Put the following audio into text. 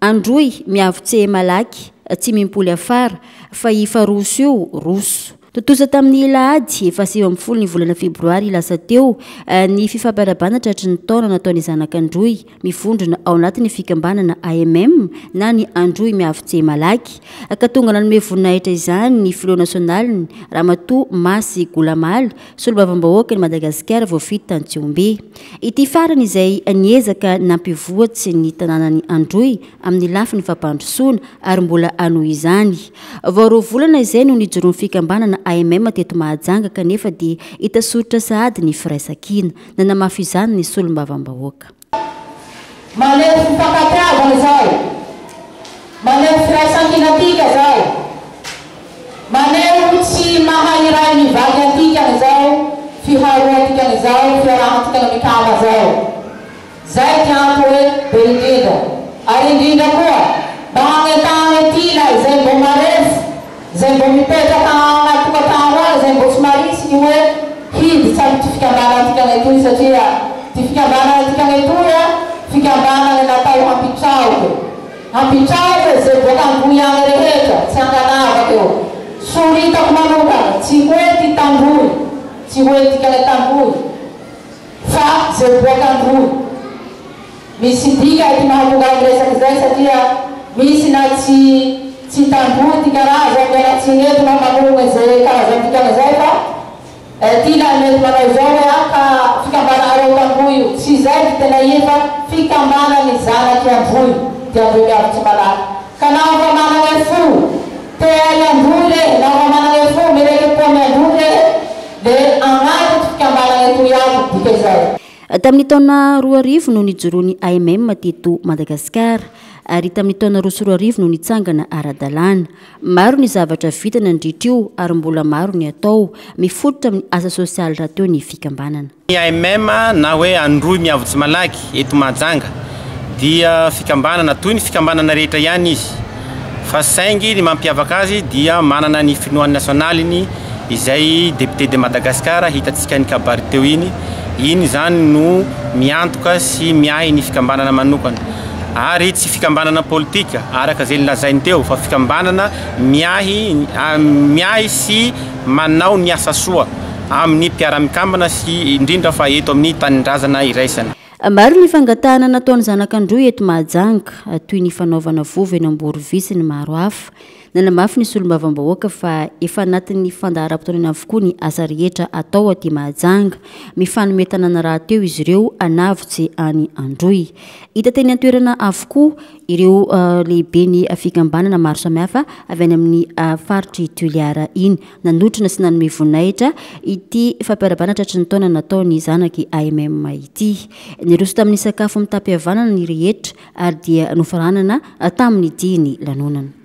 Androy miavo tse malaky tsy mimpoly afara fa ifa roso io roso. Tontosa tamin'ny alahady faha sivy ambin'ny folo ny volana febroary lasa teo ny fifampiarabana tratry ny taona nataon'ny zanak'Androy mivondrona ao anatin'ny fikambanana AMM na ny Androy miavo tse malaky ka tonga nanome voninahitra izany ny filoha nasionaliny Ramatoa Masy Golamaly Solombavambahoaka ny Madagasikara voafidy tany Tsihombe. Ity farany izay niezaka nampivoatry ny tanànan'i Androy amin'ny lafiny fampandrosoana ary mbola hanohy izany. Vao roa volana izay no nijoroan'ny fikambanana AMM teto Mahajanga kanefa dia hita soritra sahady ny firaisankina. Nanamafy izany ny Solombavambahoaka. Maneho fifankatiavana izay. Maneho firaisankina antika izay. Maneho tsy maha iray mivaky antika izao fiharoantika izao fiarahantika mikama izao. Izay dia antony hoe be indrindra. Ary indrindra koa mba hanentanana ity na izay mbo marefo. Izay mbo mipetraka ao anaty tokantrano ary izay mbo tsy maritsy ny hoe hiditra amin'ity fikambanana tikanay toy satria ity fikambanana tikanay toy a fikambanana natao hampitraoka hampitraoka izay boaka androy any rehetra tsy ankanavaka eo soritako manokana tsy hoe ty tandroy tsy hoe tikanay tandroy fa izay boaka androy Misy dika ity mahatonga ahy miresaka izay satria misy na tsy tsy tamboho ty karazany ny anaty tsy nety na manorina izay karazany dikana izay fa ity ilay mety manao izao hoe ah ka fikambananareo tamboho io tsy izay ry tena iny fa fikambana ny zanaky ambohiny dia ambohiny avy tsy malaky ka naho fa manana fo te hiamboho re naho fa manana fo mirekepo ny amboho re le agnatiny fikambanana etoy ato dika izay. Tamin'ny taona roa arivo no nijoroan'ny AMM teto Madagasikara, ary tamin'ny taona roa sy roa arivo no nitsangana ara-dalàna. Maro ny zavatra vita nandritra io ary mbola maro ny atao. Mifototra amin'ny asa sosialy rahateo ny fikambanana. Ny AMM na hoe Androy Miavo Tsy Malaky eto Mahajanga dia fikambanana toy ny fikambanana rehetra ihany izy. fa saingy ny mampiavaka azy dia manana ny finoany nasionaliny izay Député de Madagascar hitantsika any Kabary teo iny, iny izany no miantoka sy miahy ny fikambanana manokana ary tsy fikambanana politika araka izay nolazainy teo fa fikambanana miahy miahy sy manao ny asa soa amin'ny mpiara-mikambana sy indrindra fa eto amin'ny tanindrazana iraisana. Maro ny fangatahana nataon'ny zanak'Androy eto Mahajanga, toy ny fanaovana vovo eny Amborovy sy ny maro hafa. Nanamafy ny solombavambahoaka fa efa anatin'ny fandaharam-potoanany avokoa ny asa rehetra atao aty Mahajanga. Mifanome tanana rahateo izy ireo hanavotsy an'i Androy. Hita teny an-toerana avokoa ireo lehiben'ny fikambanana maro samihafa avy any amin'ny faritr'i Toliara iny. Nanotrona sy nanome voninahitra ity fampiarabana tratry ny taona natao ny zanaky AMM ity. Niroso tamin'ny sakafo mitam-pihavanana ny rehetra ary dia nofaranana tamin'ny dihin'ny lanonana.